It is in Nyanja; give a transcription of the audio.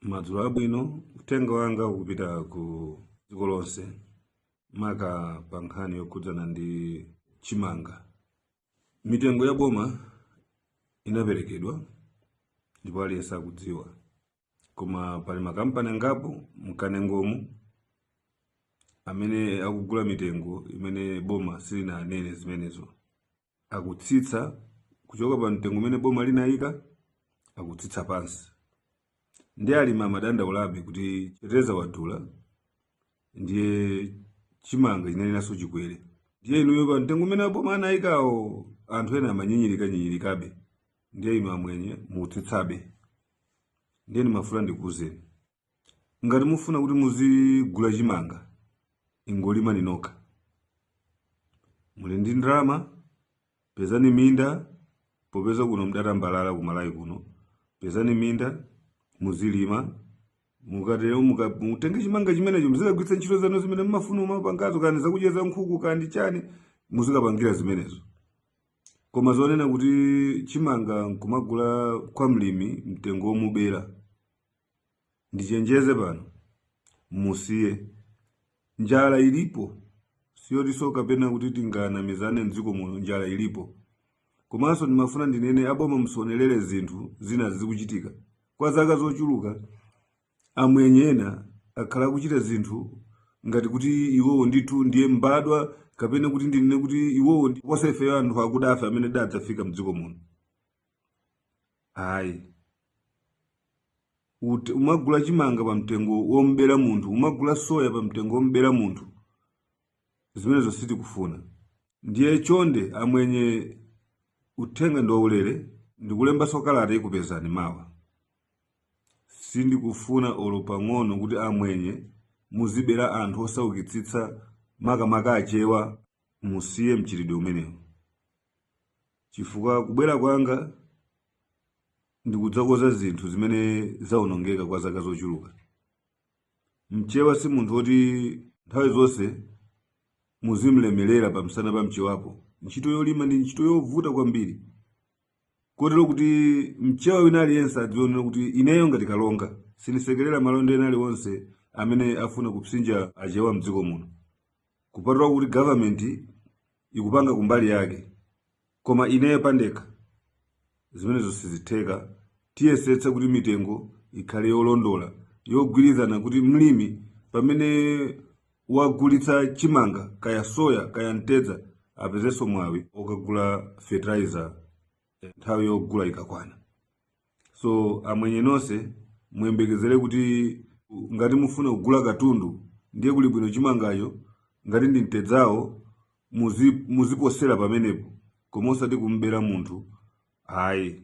madzulo abwino uthenga wanga ukupita ku dziko lonse maka pa nkhani yokhudzana ndi chimanga mitengo ya boma inaperekedwa ndipo aliyense akudziwa koma pali makampani angapo mkanengomu amene akugula mitengo imene boma silinanene zimenezo akutsitsa kuchoka pa mtengo umene boma linayika akutsitsa pansi ndi alimi amadandaulabe kuti fertilizer wadula ndiye chimanga chinenenso chikwere ndiye inuyo pa mtengo umene boma anayikawo anthu ena amanyinyirika nyinyirikabe ndiye inu amwenye mutsitsabe ndiye ndimafuna ndikuwuzeni ngati mufuna kuti muzigula chimanga ingolima nokha muli ndi ndalama pezani minda popeza kuno mdatambalala kuMalawi kuno pezani minda muzilima mukatero muka- mutenge chimanga chimenecho muzikagwiritsa ntchito zanu zimene mmafuna mumapangazo kani zakudya za nkhuku kaya ndi chani muzikapangira zimenezo koma zonena kuti chimanga nkumagula kwa mlimi mtengo womubera ndichenjeze pano musiye njala ilipo siyotinso kapena kuti tinganamizane mdziko muno njala ilipo komanso ndimafuna ndinene aboma musaonelere zinthu zina zikuchitika kwa zaka zochuluka Amwenye ena akhala akuchita zinthu ngati kuti iwowo ndithu ndiye mbadwa kapena kuti ndinene kuti iwowo ndi kuposa ifeyo anthu akudafe amene adadzafika mdziko muno. Ayi. Ut- Kumagula chimanga pa mtengo wombera munthu, kumagula soya pa mtengo wombera munthu. Zimenezo sitikufuna. Ndiye chonde amwenye uthenga ndi waulere ndikulembanso kalata ikupezani mawa. Sindikufuna olo pang'ono kuti amwenye muzibera anthu osaukitsitsa makamaka achewa musiye mchitidwe umenewu chifukwa kubwera kwanga ndikudzakonza zinthu zimene zaonongeka kwa zaka zochuluka. Mchewa si munthu woti nthawi zonse muzimlemelera pamsana pa mchewapo. Ntchito yolima ndi ntchito yovuta kwambiri kotero kuti mchewa wina aliyense adzaona kuti ineyo ngati kalonga sindisekerera malonda ena aliwonse amene afuna kupsinja achewa mdziko muno kupatula kuti government ikupanga kumbali yake koma ineyo pandekha zimenezo sizitheka tiyesetsa kuti mitengo ikhale yolondola yogwirizana kuti mlimi pamene wagulitsa chimanga kaya soya kaya mtedza apezenso mwawi okagula fertilizer nthawi yogula ikakwana so amwenye nonse muyembekezere kuti ngati mufuna kugula katundu ndiye kuli bwino chimangacho ngati ndi mtedzawo muziposera pamenepo koma osati kumbera munthu ayi